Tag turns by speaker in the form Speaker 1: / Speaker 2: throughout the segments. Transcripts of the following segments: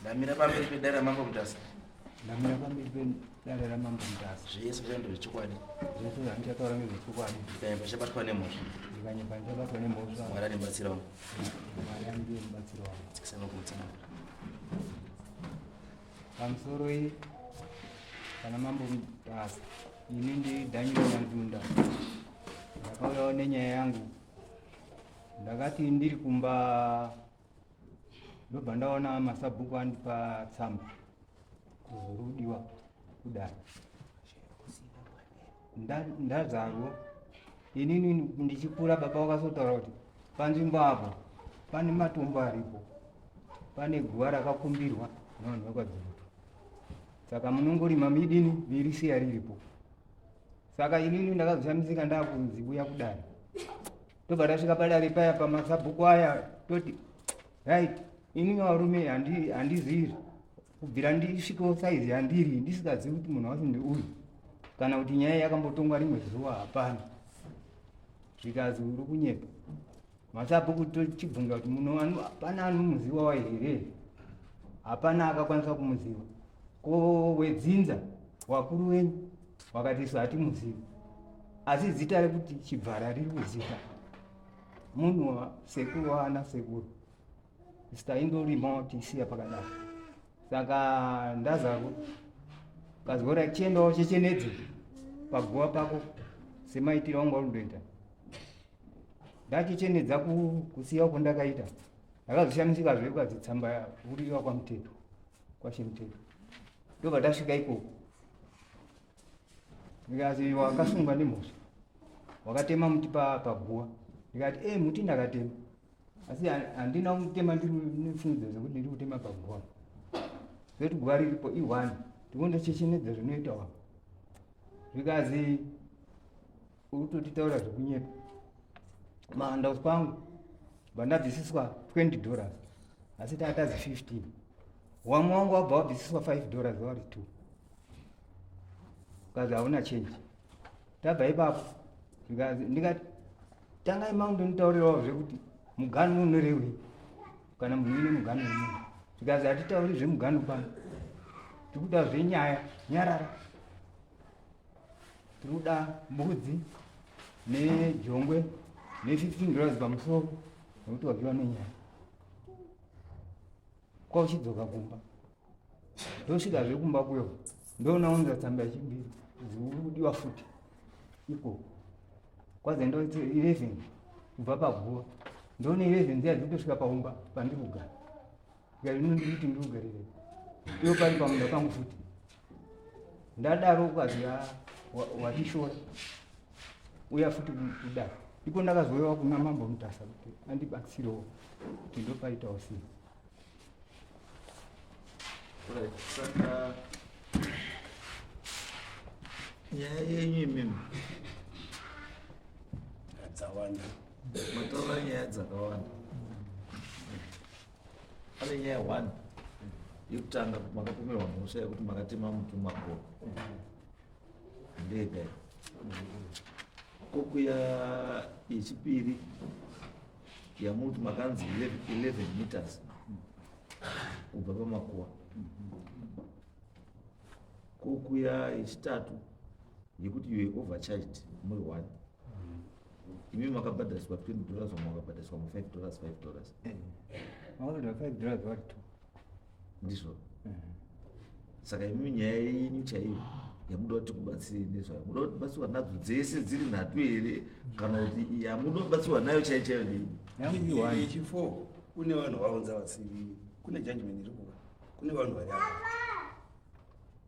Speaker 1: ndamira pamberi pedare ramambo mutasa ndamira pamberi
Speaker 2: pedare ramambo mutasa zvese zvaenda
Speaker 1: zvechokwadi zvese zvandichataura
Speaker 2: ngezvechokwadi ndikanyepa chabatwa
Speaker 1: nemhosva ndikanyepa ndichabatwa
Speaker 2: nemhosva mwari andibatsira
Speaker 1: wangu mwari andiye
Speaker 2: mubatsira wangu tsikisana kumutsana pamusoro iyi kana mambo mutasa ini ndi daniel nyandunda ndakauyawo nenyaya yangu ndakati ndiri kumba ndobva ndaona masabhuku andipa tsamba kuzorudiwa kudai ndazarwo inini ndichikura baba vakazotaura kuti panzvimbo apo pane matombo aripo pane guva rakakumbirwa nevanhu vakwadzivutu saka munongorima midini mirisiya riripo saka inini ndakazoshamisika ndakunzi uya kudai tobva tasvika padare paya pamasabhuku aya toti right ini varume handizivi kubvira ndisvikewo saizi yandiri ndisikazivi kuti munhu wacho ndeuyu kana kuti nyaya yakambotongwa rimwe zuva hapana zvikazi uri kunyepa masabhuku tochibvunza kuti muno hapana anomuziva wa here hapana akakwanisa kumuziva ko wedzinza wakuru wenyu wakati isu hatimuzivi asi zita rekuti chibvara riri kuzita munhu sekuru waana sekuru zita indorima watisiya pakadaro saka ndazako kazora chiendawo chechenedze paguva pako semaitiro anga undoita ndachichenedza kusiya uko ndakaita ndakazoshamisika zve ukazi tsamba uriwa kwamuteto kwashe muteto ndobva tasvika ikoko ndikati iwe wakasungwa nemhosva wakatema muti pa- paguva ndikati e muti ndakatema asi ha- handina kutema ndiri nefungidzo dzekuti ndiri kutema paguva zoti guva riripo ihwani ndikundochechenedza zvinoita wako zvikazi Urikutotitaura zvekunyepa. Mahandouts kwangu bandabvisiswa 20 dollars asi taatazi 15 wamwe wangu wabva wabvisiswa 5 dollars vari 2 kazi hauna change tabva ipapo zvikanzi ndikati tangai mangu ndonitaurirawo zvekuti mugani unorewei kana munhu ine mugani wemunhu zvikanzi hatitauri zvemugani pano tikuda zvenyaya nyarara Tinoda mbudzi nejongwe ne 15 dollars pamusoro nekuti wapiwa nenyaya kwa uchidzoka kumba ndosvika zve kumba kuyo ndoona unza tsamba yechibiri zikudiwa futi iko kwazaenda 11 kubva paguva ndoona 11 dziya dzitosvika paumba pandikugara yainonditi ndiugarire iyo pari pamunda pangu futi ndadaro ukazi wachishora uya futi kuda iko ndakazoyewa kuna mambo mutasa kuti andibatsirewo kuti ndopaitawo sei
Speaker 3: nyaya yenyu imimi
Speaker 1: dzawanda matova
Speaker 3: nyaya dzakawanda pane nyaya one yekutanga makapomerwa mhosva yekuti makatema muti mumagoro handei dai kokuya yechipiri yamuti makanzi 11 meters kubva pamakuwa kokuya yechitatu yekuti you were overcharged muri one imi makabhadhariswa 20 dollars vamwe vakabhadhariswa mu 5 dollars 5 dollars
Speaker 2: eh, vanoda 5 dollars vari two ndizvo
Speaker 3: eh. saka imi nyaya yenyu chaiyo yamuda kuti kubatsirei nezvayo muda kuti batsirwa nadzo dzese dziri nhatu here kana kuti yamuda kubatsirwa nayo chaiyo chaiyo ndei yanguiwayechipo
Speaker 1: kune vanhu vaunza vasivi kune judgment iri kuva kune vanhu vari apa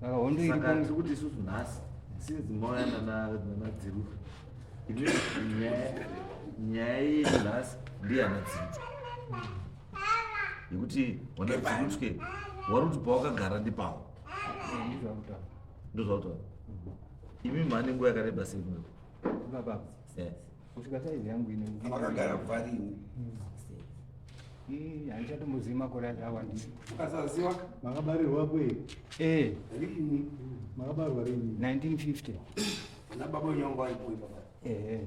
Speaker 3: saka hondo iri
Speaker 2: saka tiri kuti
Speaker 3: isusu nhasi since mauya nana- nanadziru ine nyaya- nyaya yenyu nhasi ndiyana dzirutwe yekuti wana dzirutwe wari kuti pawakagara ndipawo ndizvakutaura ndozvautaura imi mhani nguva yakareba sei kuno baba
Speaker 2: kusvika saizi yangu ine vakagara kubva
Speaker 1: rini
Speaker 2: handichatombozivi makore acho awandisa ukasaziva
Speaker 1: makabarirwa kwe
Speaker 4: ee rini
Speaker 1: makabarwa
Speaker 4: rini 1950
Speaker 2: nababa
Speaker 1: wenyangu vaipoi baba ehe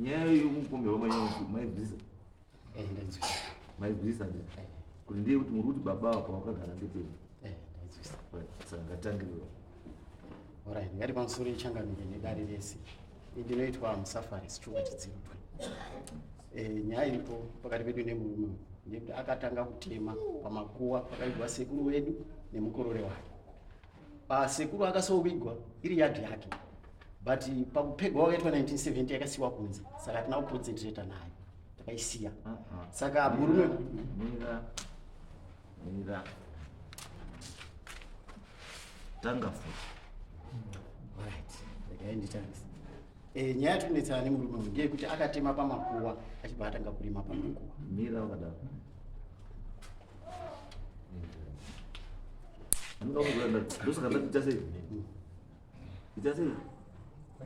Speaker 3: nyaya yokukumbirwa manyangu maibvisa eh, maibvisa eh. kuti ndiye kuti muri kuti baba apa wakagara ndepeni eh, saka ngatangiriwa
Speaker 5: orit ngati pamusoro ichangamire nedare rese ndinoitwa musafari sichunga chidzirutwe nyaya iripo pakati pedu nemurume ndekuti akatanga kutema pamakuwa pakaigwa sekuru wedu nemukorore wake pasekuru akasovigwa iri yadhi yake but pakupegwa wakaitwa 1970 yakasiwa kunze saka hatina kuconcentrata nayo takaisiya uh-huh. saka murume
Speaker 3: tanga futi right ndikaenditangisa
Speaker 5: Eh, nyaya yatiri kunetsana nemurume uyu ndeyekuti akatema pamakuwa achibva atanga kurima pamakuwa mira wakadaro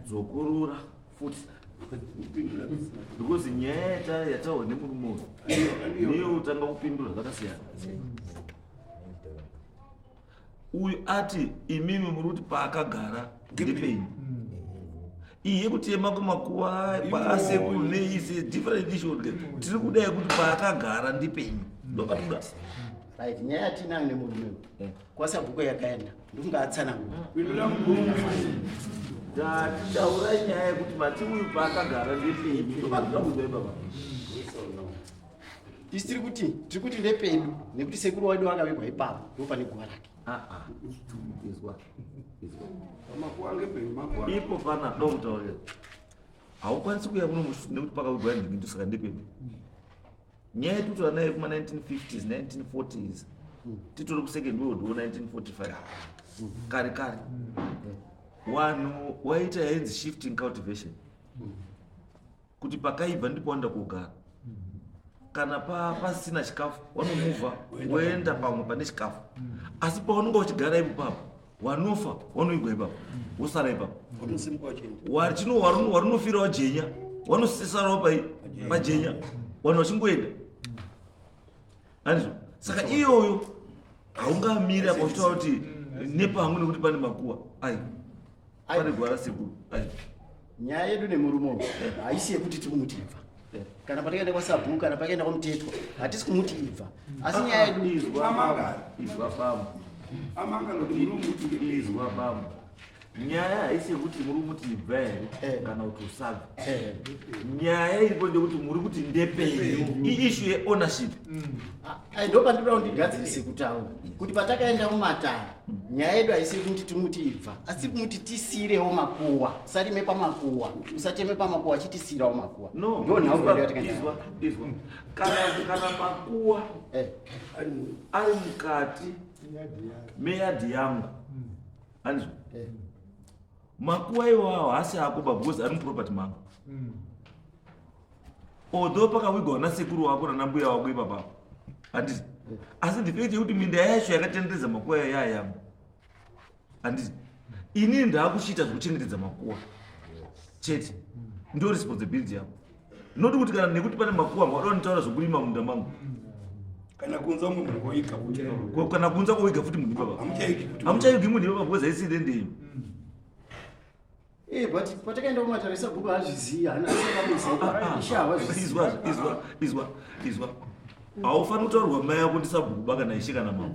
Speaker 3: dzokurura futi because nyaya yataurwa nemurume uyu niyo utanga kupindura zvakasiyana uyu ati imimi muri kuti paakagara ndepenyu iye kutema kumakuva kwaasekuru neise different issue ke tiri kuda yekuti paakagara ndipenyu ndopatuda right
Speaker 5: nyaya yatinayo nemurume uyu kwasabhuko yakaenda ndikunga atsanangura taura
Speaker 3: nyaya yekuti mati uyu paakagara ndepenyu ndopatuda kuzoipa pa
Speaker 5: Tisi tiri kuti tiri kuti ndepedu nekuti sekuru wedu akavigwa ipapo ndipo pane guva rake. Ah, ah. Izwa. Izwa.
Speaker 3: Makuwa ngepenyu makuwa. Ipo pana dokta uyo. Haukwanisi kuya kuno nekuti pakavigwa ndimi ndosaka ndepedu. Nyaya yatutaura nayo kuma 1950s 1940s titori kusecond world war 1945 kare kare wanhu waita yainzi shifting cultivation kuti pakaibva ndipo wanda kugara kana pasina chikafu wanomuvha woenda pamwe pane chikafu asi paunenge uchigara ipo papa wanofa wanoigwa ipapa wosara ipapa warinofira wajenya wanosisarawo pajenya vanhu vachingoenda anizvo saka iyoyo haungamiri apa uchitaura kuti mm, nepangu nekuti pane makuwa ai pane gwara sekuru ai nyaya yedu
Speaker 5: nemurume uyu eh. haisi yekuti tiri kumuti ibva eh. kana patikaenda kwasabhuku kana pakaenda kwamutetwa hatisi kumuti ibva asi nyaya yedu izwa baba izwa
Speaker 3: baba amanga nokuti murume izwa baba nyaya haisi yekuti muri kuti ibva here eh. kana kuti usabva eh. nyaya iripo ndekuti muri kuti ndepenyu iishu yeownership mm. ah, eh,
Speaker 5: ndo pandinoda kundigadzirise kutaura kuti patakaenda mumatare nyaya yedu haisi yekuti timuti ibva asi kumuti tisiirewo makuwa usarime pamakuwa usacheme pamakuwa chitisiirawo makuwa nonhaizwa
Speaker 3: kana makuwa ari mukati meyadhi yangu anzwa eh. makuva iwawo haasi ako ba because ari muproperty mako mm. although pakavigwa na sekuru wako nana mbuya wako ipapa handiti eh. asi the fact yekuti minda yacho yakatenderedza makuva yayo yayama handiti ini ndaakuchiita zvekuchengetedza makuva chete ndo responsibility yako not kuti kana nekuti pane makuwa amwe adoda nitaura zvokurima munda mangu kana
Speaker 1: kunza umwe munhu koiga futi Ko- kana kunza
Speaker 3: koiga futi munhu ipapa hamuchaiki kuti hamuchaigi munhu ipapa because haisiri ndeyi
Speaker 5: Eh, but patakaenda kumatare sabhuku haazvizivi haana ishe havazvizivi izwa
Speaker 3: izwa izwa izwa haufaniri kutaurirwa mai yako ndisabhukuba kana ishe kana mama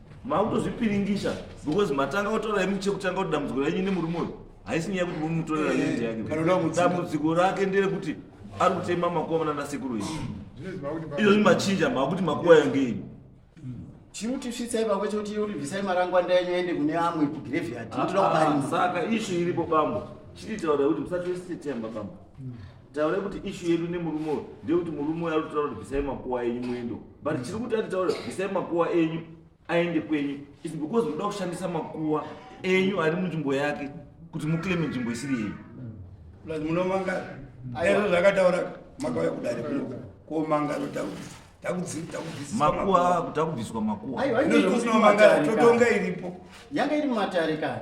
Speaker 3: makutozvipiringisa because matanga kutora imi chekutanga kuti dambudziko renyu nemurume uyu haisi nyaya kuti mumutorera lindi yake dambudziko rake nderekuti ari kutema makuva mana nasekuru iyi izvozvi machinja makuti makuva yange ini
Speaker 5: chiutisvitsai pakwe chekuti uribvisai marangwanda enyu ende kune amwe kugraveyard ah, ndinoda ah, kubaria saka
Speaker 3: ishu iripo bambo chiti taura kuti musatosise temba bambo taura kuti ishu yedu nemurume uyo ndeyekuti murume uyo ari kutaura kuti bvisai makuva enyu muendo but chiri kuti atitaura bvisai makuwa enyu aende kwenyu is because munoda kushandisa makuwa enyu ari munzvimbo yake kuti muclaime nzvimbo isiri yenyu plus
Speaker 1: munomanga aizvo zvakataura makauya kudare kunoka komanga rotaura makuwa
Speaker 3: akuda kubviswa makuwa
Speaker 1: totonga iripo yanga iri mumatare
Speaker 5: kani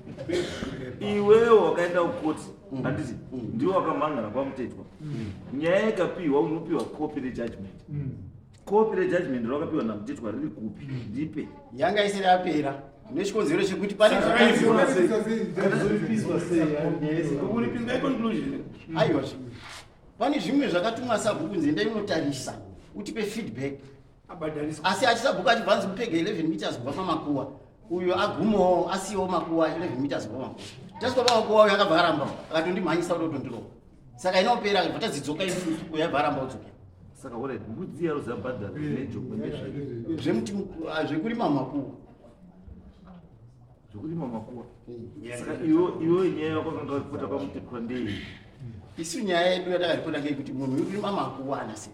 Speaker 3: iwewo wakaenda kukoti mm. handiti mm. ndiwo wakamhangana kwamutetwa mm. nyaya ikapiwa unopiwa kopi rejudgment kopi rejudgment rakapiwa namutetwa riri kupi ndipe yanga isiri
Speaker 5: yapera nechikonzero chekuti paneaiwa pane zvimwe zvakatumwa sabhuku nzenda inotarisa utipe feedback asi achisabuka achibva anzi mupega 11 meters kubva pamakuwa uyo agumawo asiyawo makuwa 11 meters kubva makuwa tasvika pamakuwa uyo akabva aramba akatondimhanyisa kuti otondirova saka inopera akabva tadzidzoka isusu uyo aibva aramba odzoka saka ora
Speaker 3: mbudzi yaro zabhadhara nejoko ndezvezvemuti
Speaker 5: ah, zvekurima makuwa
Speaker 3: zvekurima makuwa saka iwo nyaya yako kanga vaipota kwamuti kwandei isu
Speaker 5: nyaya yedu yatakaripota ngeyekuti munhu wekurima makuwa anasei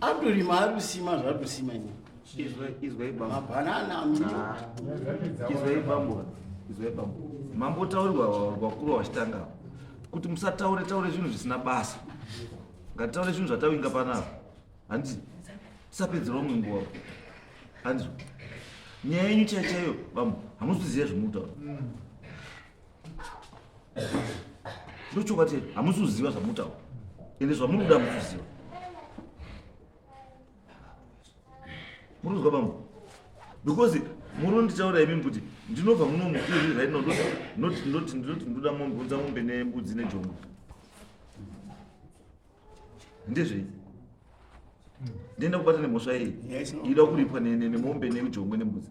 Speaker 5: atorima ari kusima zvaari kusima ini izwai bambo
Speaker 3: mabhanana amira izwai bambo izwai bambo mambo taurirwa vakuru vachitanga kuti musataure taure zvinhu zvisina basa ngatitaure zvinhu zvatawinga panapa handiti tisapedzera umwe nguva handizvo nyaya yenyu chaichaiyo bambo hamuziziva zvemutaura ndochokwadi chete hamusi kuziva zvamunotaura ende zvamuri kuda hamusi kuziva muri kuzwa bambo because muri nditaura imimi kuti ndinobva muno mukiri right now ndoti ndoti ndoti ndoda mombe unza mombe nembudzi nejombo ndezvei ndienda kubata nemhosva yei ida kuripwa nemombe nejombo nembudzi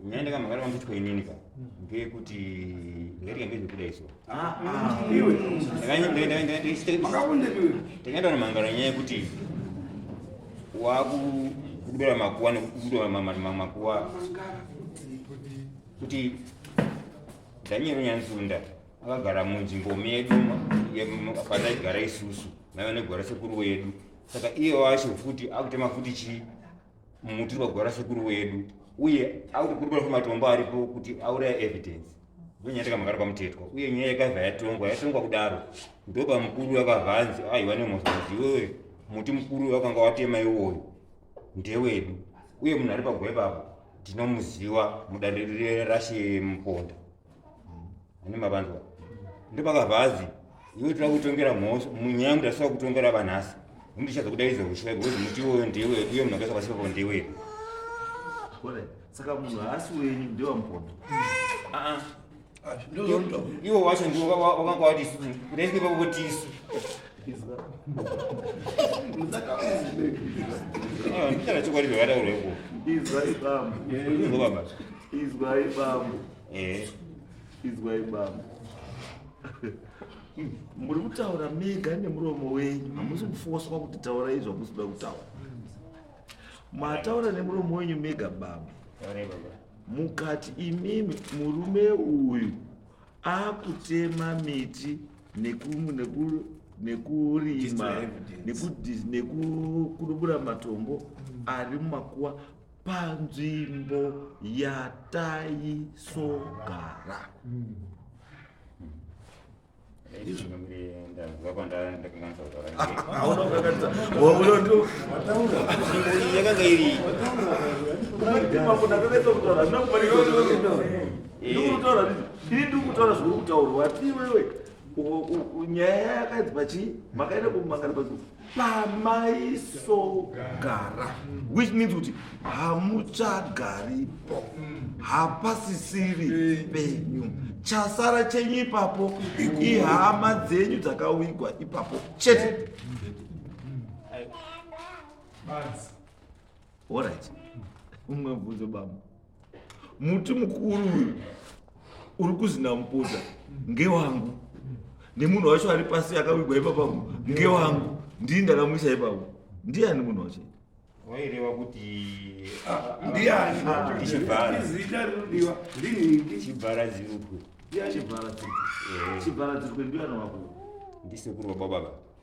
Speaker 1: nyaya ndakamhangara vanguitwa
Speaker 6: inini ka ngeyekuti ndairika ndezvekuda iso
Speaker 1: ndakaenda nomhangara
Speaker 6: nyaya yekuti wakudubira makuwa nekudubira makuwa kuti daniel nyanzunda akagara munzvimbo medu pataigara isusu naiva negwara sekuru wedu saka iye wacho futi akutema futi chii muti wakagwara sekuru wedu uye akukurukura kwematombo aripo kuti auraya evidence ndonyaya takamagara kwamutetwa uye nyaya yakabva yatongwa yatongwa kudaro ndoba mukuru akavanzi aiwa nemozozi iwewe muti mukuru wakanga watema iwoyo ndewedu uye munhu ari pagwai papo tinomuziva mudariro rashe muponda ane mavanzwa ndopakabva azi iwe tira kutongera mhosva munyangu tasava kutongera vanhasi undichaza kudaidza husvai bhozi muti iwoyo ndiwe uye munhu akaisa pasipapo ndiwe
Speaker 3: saka munhu haasi wenyu ndewamupono ah, ah.
Speaker 6: iwo wacho ndiwo wakanga wati ndaisipepakutisu ndichana chokwadi zvakataurwa iko izwai bambo
Speaker 3: izobaba
Speaker 6: izwai
Speaker 3: bambo eh izwai bambo muri kutaura mega nemuromo wenyu hamusi kufoswa kuti taura izvo hamusi kuda kutaura mataura nemuromo wenyu mega bambo mukati imimi murume uyu akutema miti nekurima nekudubura matombo mm. ari mumakuwa panzvimbo yataisogara
Speaker 6: mm. yakanga iri
Speaker 3: ndikutaura ndii ndiri ndikutaura zviri kutaurwa ti iwewe nyaya yakadzi pachii makaenda kumangana pa pamaisogara which means kuti hamuchagaripo hapasisiri penyu chasara chenyu ipapo ihama dzenyu dzakawigwa ipapo chete Buzz. Alright. Umwe mubvunzo baba. Muti mukuru uyu uri kuzina muputa ngewangu. Nemunhu wacho ari pasi akawigwa ipa pangu ngewangu. Ndini ndakamuisa ipapo. Ndiyani munhu wacho? Waireva
Speaker 6: kuti ah, ndiyani?
Speaker 1: Ah, Chibhara.
Speaker 6: Zita rinodiwa
Speaker 1: ndini Chibhara Zirukwe.
Speaker 6: Chibhara
Speaker 3: Zirukwe. Eh. Chibhara Zirukwe ndiyani wako? Ndisekuru wababa.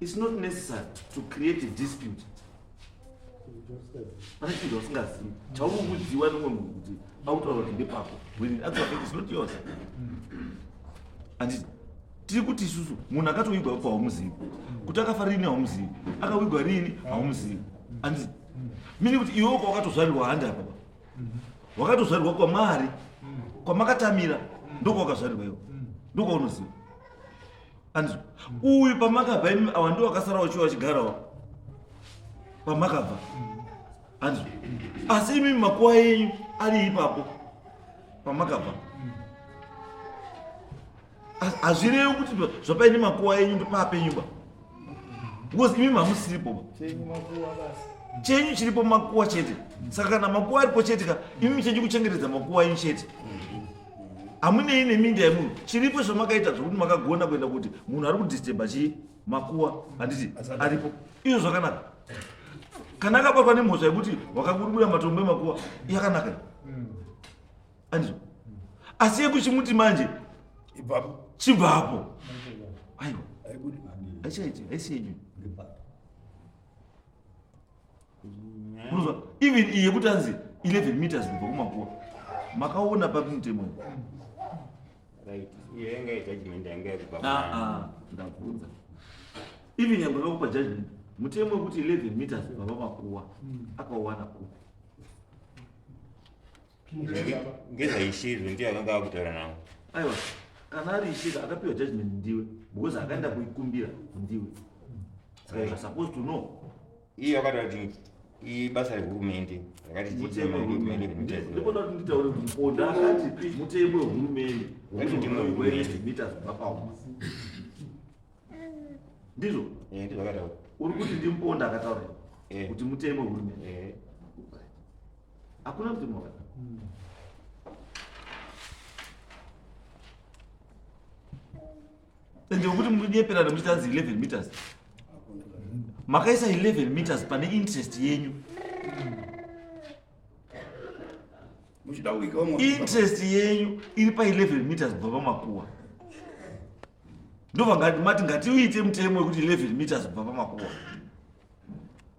Speaker 3: It's not necessary to create a dispute. Pane chinhu usingazivi chaunokuziwa nomwe munhu kuti akutaura kuti ndepako when in actual fact is not yours. Anditi tiri kuti isusu munhu akatoigwa pa haumuzivi kuti akafa riini haumuzivi akawigwa riini haumuzivi anditi mini kuti iwe uka wakatozvarirwa handi apa wakatozvarirwa kwamari kwamakatamira ndokwawakazvarirwa iwo ndokwaunoziva anzwa uyu pamakabva imi awa ndiwo akasara wachiwa achigarawo pamakabva anzwa asi imi makuwa enyu ari ipapo pamakabva hazvirevi kuti zvapaine makuwa enyu ndopaapenyuba because imi mamusiripo ba chenyu chiripo makuwa chete saka kana makuwa aripo chete ka imi chenyu kuchengetedza makuwa enyu chete hamunei neminda yemunhu chiripo zvamakaita zvokuti makagona kuenda kuti munhu ari kudisturba chii makuwa handiti aripo izvo zvakanaka kana akabatwa nemhosva yekuti wakakurukura matombo emakuwa yakanaka andizvo asi yekuchimuti manje
Speaker 1: chibvapo
Speaker 3: aiwa aichaiti aisiyenyu unonzwa even iye kuti anzi 11 meters kubva kumakuwa makaona papi mutemo ah,
Speaker 6: ah, ndabvunza
Speaker 3: even nyangwe vakupa judgment mutemo wekuti 11 meters kubva pamakuwa hmm. akauwana kupi
Speaker 6: ngezvaishirwe ndiye akanga akutaura navo aiwa
Speaker 3: kana ari ishiri akapiwa judgment ndiwe because akaenda kuikumbira ndiwe saka you're supposed to know iye akati ati
Speaker 6: ibasa rehurumende rakati mutemo wehurumende
Speaker 3: ndikuda kuti nditaure kuti mponda akati mutemo wehurumende wekuita
Speaker 6: zvibva pauma
Speaker 3: ndizvo eh, ndizvo akataura
Speaker 6: uri kuti ndimponda
Speaker 3: akataura eh. kuti mutemo wehurumende eh. hakuna mutemo wakata hmm. ende wekuti munyeperana muchiti hanzi 11 meters makaisa 11 meters pane interest yenyu
Speaker 1: interest yenyu
Speaker 3: iri pa 11 meters kubva pamakuwa ndovangati mati ngatiuite mutemo wekuti 11 meters kubva pamakuwa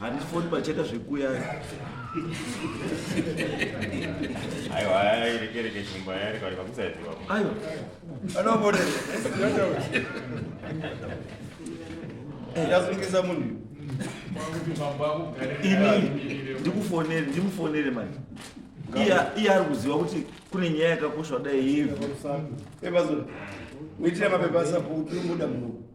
Speaker 3: handifoni pacheka zvekuya aiwa
Speaker 6: airekereke chimba yarekareka
Speaker 1: kusaiziva aiwa anobone ndasungisa munhu
Speaker 3: ini ndikufonere ndimufonere mani iye ari kuziva kuti kune nyaya yakakoshwa dai yevhu
Speaker 1: emazoitira mapepa asapo kuti unoda munhu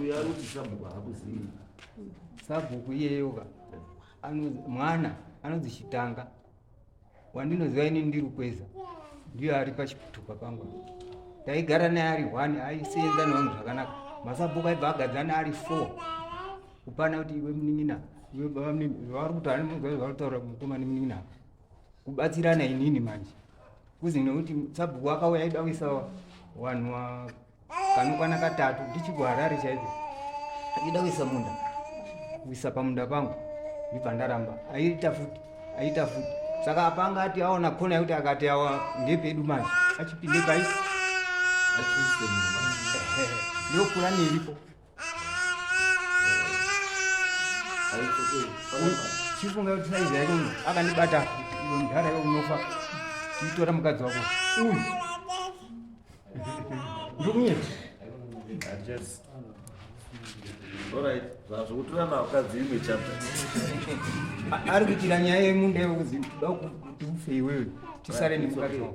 Speaker 3: uyo anoti sabhuku
Speaker 2: haakuzivi sabhuku iyeyoka mwana anonzi chitanga wandinoziva ini ndiri kweza ndiyo ari pachitupa pangu taigara naye ari one aisenza nevanhu zvakanaka masabhuku aibva agadzana ari four kupana kuti iwe munin'ina iwe baba munin'ina vavari kutaura nemuzazi vari kutaura mukoma nemunin'ina kubatsirana inini manje kuzi nekuti sabhuku akauya aida kuisa wanhu kanokwana katatu ndichigwa harare chaiko ndida kuisa munda kuisa pamunda pangu ndibva ndaramba aiita futi aiita futi saka apanga ati aona kona yekuti akati awa ndepedu manje achipinde pai ndokura niripo chifunga kuti saizi yake uyu akandibata iwe mudhara iwe unofa itora mukadzi wako uyu
Speaker 3: ndikunyeti
Speaker 2: ari kuitira nyaya yemunda iwe kuti da kuti ufe iwewe tisare nemukadzi
Speaker 3: wako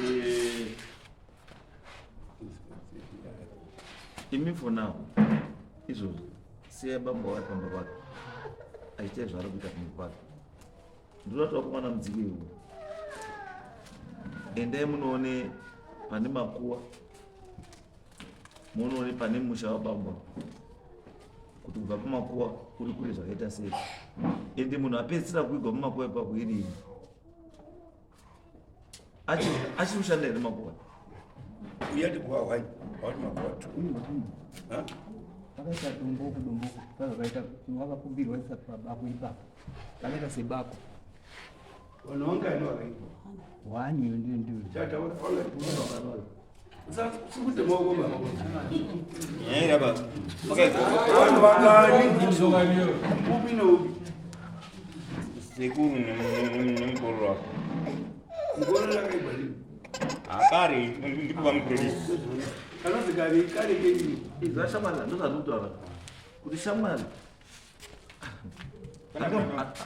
Speaker 3: Eh, imi for now izvozvo siya baba wari pamba pake achiita zvaari kuita kumwe kwake ndinoda kuti vakomana mudziki iwo endai munoone pane makuwa munoone pane musha wababa kuti kubva pamakuwa kuri kure zvakaita sei ende munhu apedzisira kuigwa mumakuwa ipapo irini achiri kushanda here makuwa
Speaker 1: uyati kuwa hwai awati makuwa tu
Speaker 2: akaita domboko domboko kazvakaita wakakumbirwa isati pabako ipapo kakaita sebako
Speaker 1: wani ndiyo
Speaker 2: ndiyo ndiyo
Speaker 1: akari
Speaker 6: ndipo vamuprofesa
Speaker 1: kanonzi kari
Speaker 7: kari
Speaker 6: kenyi izva shamwana ndozvandikutaura
Speaker 3: kuti shamwana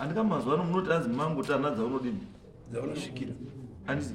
Speaker 3: andika mazuva ano munoti anzi mangu tana dzaunodini dzaunosvikira
Speaker 1: andisi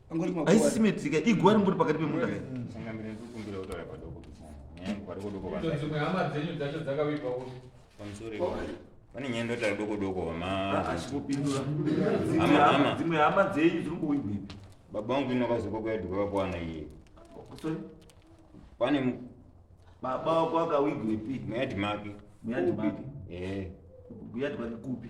Speaker 1: haisisi medzika iguva
Speaker 3: ringori pakati pemunda
Speaker 6: pane nyaya ndotari doko doko vamadzimwe hama dzenyu
Speaker 3: dziri kuwigwi baba vangu ino
Speaker 6: vazoka kuyadhika vakuwana iye pane
Speaker 3: baba wako akawigwepi muyadhi make
Speaker 6: muyadhi make
Speaker 3: eh. kuyadhika nekupi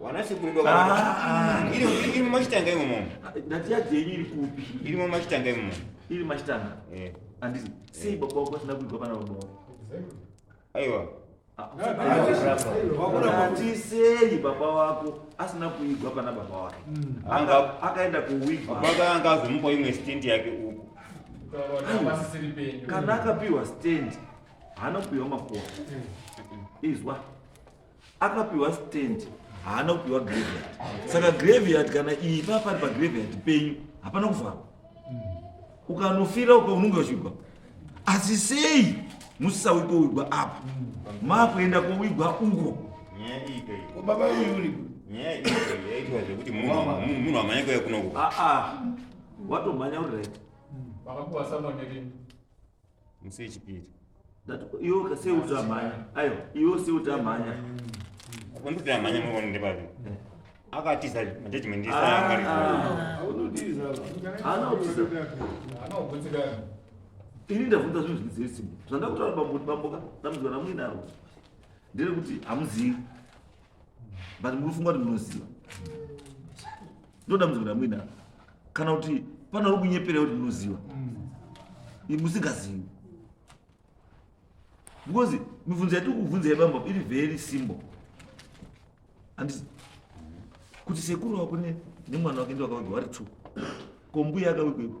Speaker 6: wana sekuru doka ah, ah, ah. iri iri mashitanga imo mom ndati yaje
Speaker 3: iri kupi iri mom mashitanga imo
Speaker 6: mom iri mashitanga
Speaker 3: eh andizi si eh. baba wako sina kuigwa pana baba
Speaker 6: aiwa
Speaker 3: atisei baba wako asina kuigwa pana baba wake hmm. anga akaenda kuwigwa baba anga azomupa
Speaker 6: imwe stand yake uko
Speaker 7: kana akapiwa
Speaker 3: stand hanopiwa makuwa hmm. izwa akapiwa stand haana kupiwa graveyard saka graveyard kana iyi paa pari pagraveyard penyu hapana kuvharwa ukanofira uko unonge uchigwa asi sei musisauyi kowigwa apa maakuenda kowigwa uko
Speaker 6: baba yuri nyaya
Speaker 1: yaitwa
Speaker 6: zvekuti munhu amhanya kuya kunoku
Speaker 3: watomhanya uri right vakakuwa
Speaker 7: samwanyerini musi
Speaker 6: yechipiri iwe
Speaker 3: ukasei utamhanya aiwa iwe usei utamhanya
Speaker 6: unditamhanya mwana ndebaviri akatiza judgment
Speaker 3: ini ndabvunza zvinhu zvine simba zvandakutaura bambuti bamboka dambudziko ramuinaro ndere kuti hamuzivi but munofunga kuti munoziva ndodambudziko ndamuina kana kuti pane uri kunyeperera kuti munoziva mm. musingazivi because mibvunzo yatiri kubvunza yebamba iri very simple andisi kuti sekuru wako nemwana wake ndiwakawegwa wari two kombuya akawegwepo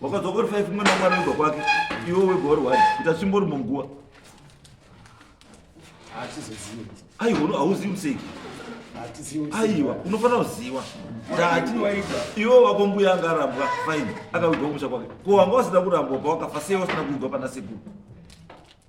Speaker 3: wakadzoka uri five mwana mwana wega kwake iwe wega uri wani kuti asimbori munguva aiwa hauzivi museki aiwa unofanira kuziva ndati iwe wako mbuya anga arambwa fine akavigwa kumusha kwake ko wanga wasina kurambwa pawakafa sei wasina kuigwa pana sekuru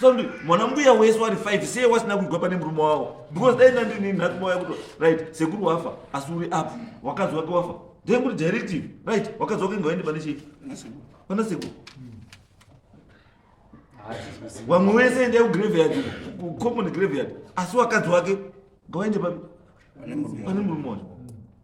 Speaker 3: sondi mwana mbuya wese wari five sei wasina kuigwa pane murume wavo because dai nandini nhatu mauya kuto right sekuru wafa asi uri up wakadzi wake wafa then kuri directive right wakadzi wake ngawaende pane chii pana sekuru wamwe wese endai kugraveyard common graveyard asi wakadzi wake ngawaende pane murume wacho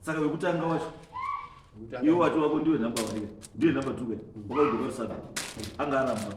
Speaker 3: saka wekutanga wacho iwe wati wako ndiwe number one ndiwe number two wakaudokwarisana anga aramba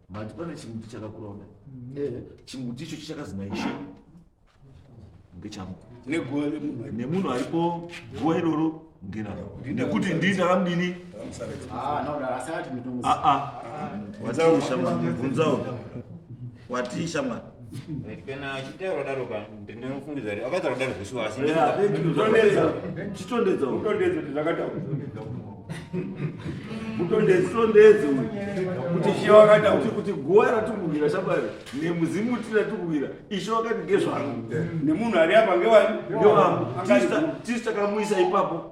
Speaker 3: Mati pane chimuti chakakura kudai. Mm. Eh, chimuti icho chichakazi naishe ngechangu. Neguva remunhu. Nemunhu aripo guva iroro ngeraro. Nekuti ndini amdini. Ah, no, asati
Speaker 5: mitongo. Ah ah. Wati
Speaker 3: shamwari, bvunzawo. Wati shamwari. kana
Speaker 6: achitaura kudaro ka ndinofungidza kuti akaita kudaro zvesu asi chitondedza
Speaker 3: utondedze zvakataura
Speaker 1: utondedze utondedze
Speaker 3: kuti ishe wakata kuti kuti guva ratikuwira shabari nemuzimu uti ratikuwira ishe wakati ngezvangu nemunhu ari apa
Speaker 1: ngewani ngewangu tisi
Speaker 3: takamuisa ipapo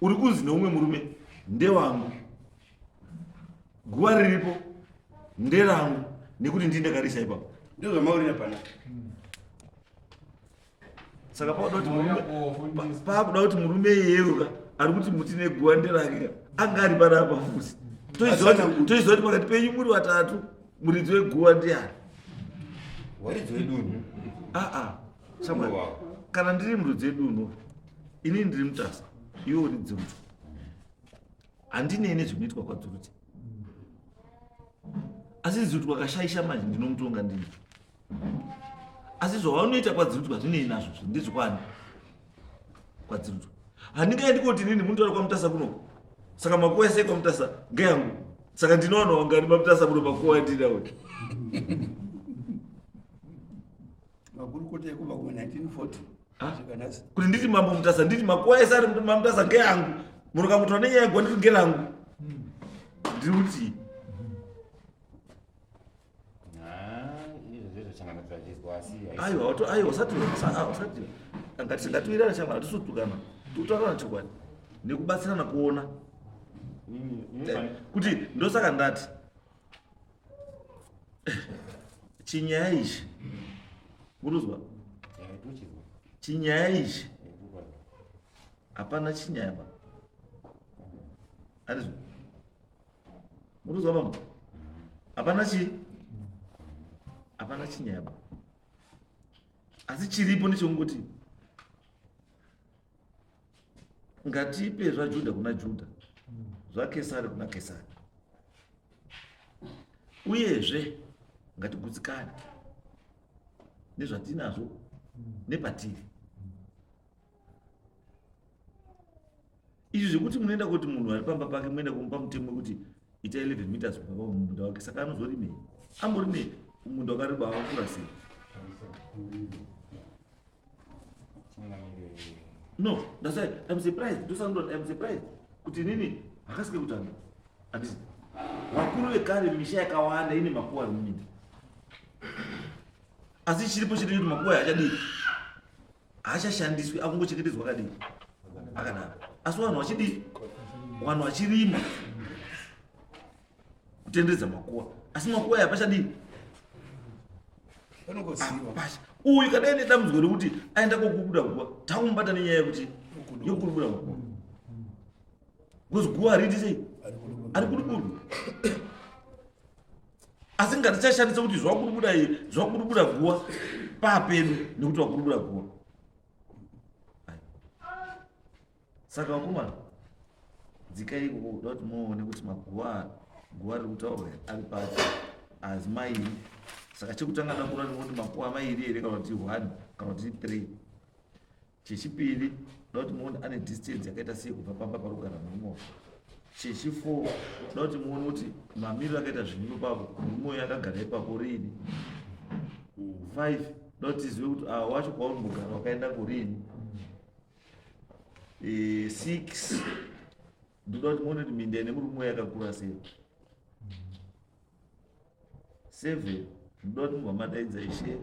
Speaker 3: uri kunzi neumwe murume ndewangu guva riripo nderangu nekuti ndii ndakarisa ipapo ndozvamaurira pana saka pakuda kuti murume pakuda kuti murume iyeyoka ari kuti muti neguva nderake ka anga ari pana apa fusi toiziva kuti pakati penyu muri vatatu muridzi weguva ndiani
Speaker 6: waridzi wedunhu aa
Speaker 3: Samuel, kana ndiri murudzi edu uno ini ndiri mutasa iwe uri dzunzu handinei nezvinoitwa kwadzurudzi asi zuri twakashaisha manje ndinomutonga ndini asi zvawanoita kwadzirudzwa zvinei nazvo zvi ndezvekwani kwadzirudzwa handingaendi koti nini munotaura kwamutasa kunoko saka makuwa esei kwamutasa ngeyangu saka ndinowana wangani mamutasa muno makuwa andinawe
Speaker 1: makurukota ekubva kuma 1940 ah.
Speaker 3: kuti nditi mambo mutasa nditi makuwa ese ari mamutasa ngeangu muroka mutora nenyaya yegwa ndiri ngerangu hmm. ndiri kuti aiwa aiwa usati usati ngati ngatiwirana chama tisutukana tutaurana chokwadi nekubatsirana kuona kuti ndosaka ndati chinyaya ichi muruzwa chinyaya ichi hapana chinyaya ba arizwa muruzwa bama hapana chi hapana chinyaya ba asi chiripo ndechokungoti ngatipe zvajudha kuna judha zvakesari kuna kesari uyezve ngatigutsikane nezvatinazvo nepatiri izvi zvekuti munoenda kuti munhu ari pamba pake muenda kumupa mutemo wekuti ita 11 meters kubva pamumunda wake saka anozorimei amborimei umunda wakareba wakakura sei No, that's why I'm surprised. Do something, I'm surprised. Kuti nini, hakasike kutanga. Ati, wakuru wekare misha yakawanda ine makuwa nini. Asi chiripo chiri kuti makuwa haachadii. Haachashandiswi, akungochengetedzwa akadii. Akadaro. Asi vanhu vachidii? Vanhu vachirima. kutenderedza makuwa asi makuwa aya pachadii pasha uyu kadai nedambudziko rekuti aenda kokubuda guva takumubata nenyaya yekuti yokubuda makuwa because guva hariti sei ari kudubudu asi ngatichashandisa kuti zvakudubuda iye zvakudubuda guva papedu nekuti wakudubuda guva saka vakomana dzikai ikoko kuda kuti muone kuti maguva guva riri kutaurwa ari papi azi mairi saka chekutanga ndakura ndinoti makuva mairi here kana kuti one kana kuti three chechipiri ndoti muone ane distance yakaita sei kubva pamba pari kugara murume wako chechifour ndoti muone kuti mamiriro akaita zvinhu ipapo murume uyo akagara ipapo riini five ndoti zive kuti awa ah, wacho kwaunombogara wakaenda kurini eh, six ndoda kuti muone kuti minda ine murume yakakura sei seven ndoda kuti mubva madaidza ishe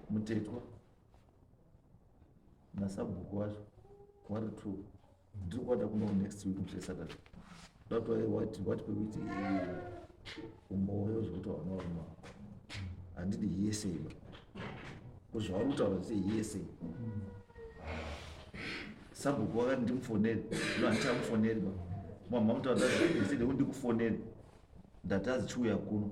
Speaker 3: mutetwa nasabhuku wacho wari two ndiri kuwada kuno next week ndiri saturday that's why wati wati pekuti umoyo zvekuti vana varuma handidi hearsay ba ko zvavari kutaura zviite hearsay sabhuku wakati ndimufoneri zvino handichamufoneri ba mama mutaura zvaiside kuti ndikufoneri ndatazi chiuya kuno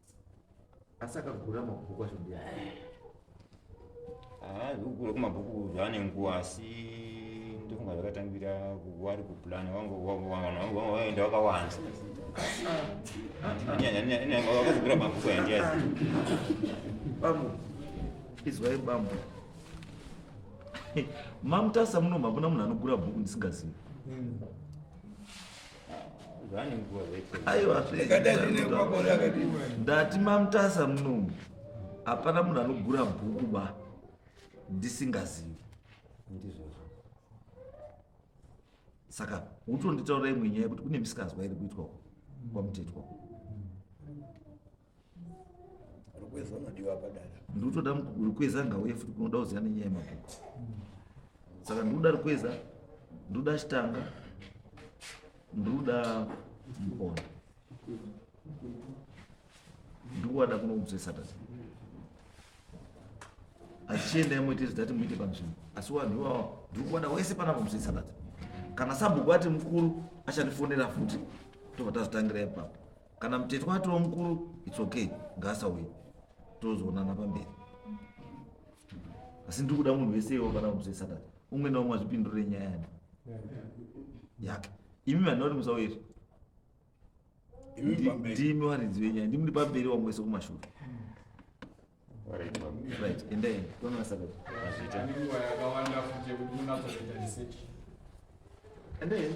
Speaker 3: asi akagura mabhuku acho mbuya
Speaker 6: ah, kugura kumabhuku zvaane nguva asi ndofunga zvakatangira wari kuplan waenda wakawanda wakazogura mabhuku yandiyazi
Speaker 3: bambo izwai bambo mamutasa muno makuna munhu anogura bhuku ndisingazivi hmm. ndati mamutasa munomu hapana munhu anogura bhuku ba ndisingazivi saka utonditaura imwe nyaya yekuti kune misikanzwa iri kuitwa kwamutetwa
Speaker 1: rukweza unodiwa padara ndikutoda
Speaker 3: rukweza ngauye futi kunoda kuziva nenyaya yemabhuku saka ndikuda rukweza ndikuda chitanga ndikuda mukona ndikuwada kunokudzwe saturday achienda imoite zidati muite panzvimbo asi vanhu ivavo ndiri kuwada wese pana kudzwe saturday kana sabhuku ati mukuru achandifonera futi tobva tazotangira ipapo kana mutetwa atova mukuru its okay ngaasauye tozoonana pamberi asi ndiri kuda munhu wese iwo kana musi wesatata umwe naumwe azvipindure nyaya yani yake imi vanhu vari musauye ndimi waridzi wenyaya ndimi ndi pamberi wamwe wese kumashure right endai toona sakati
Speaker 7: endai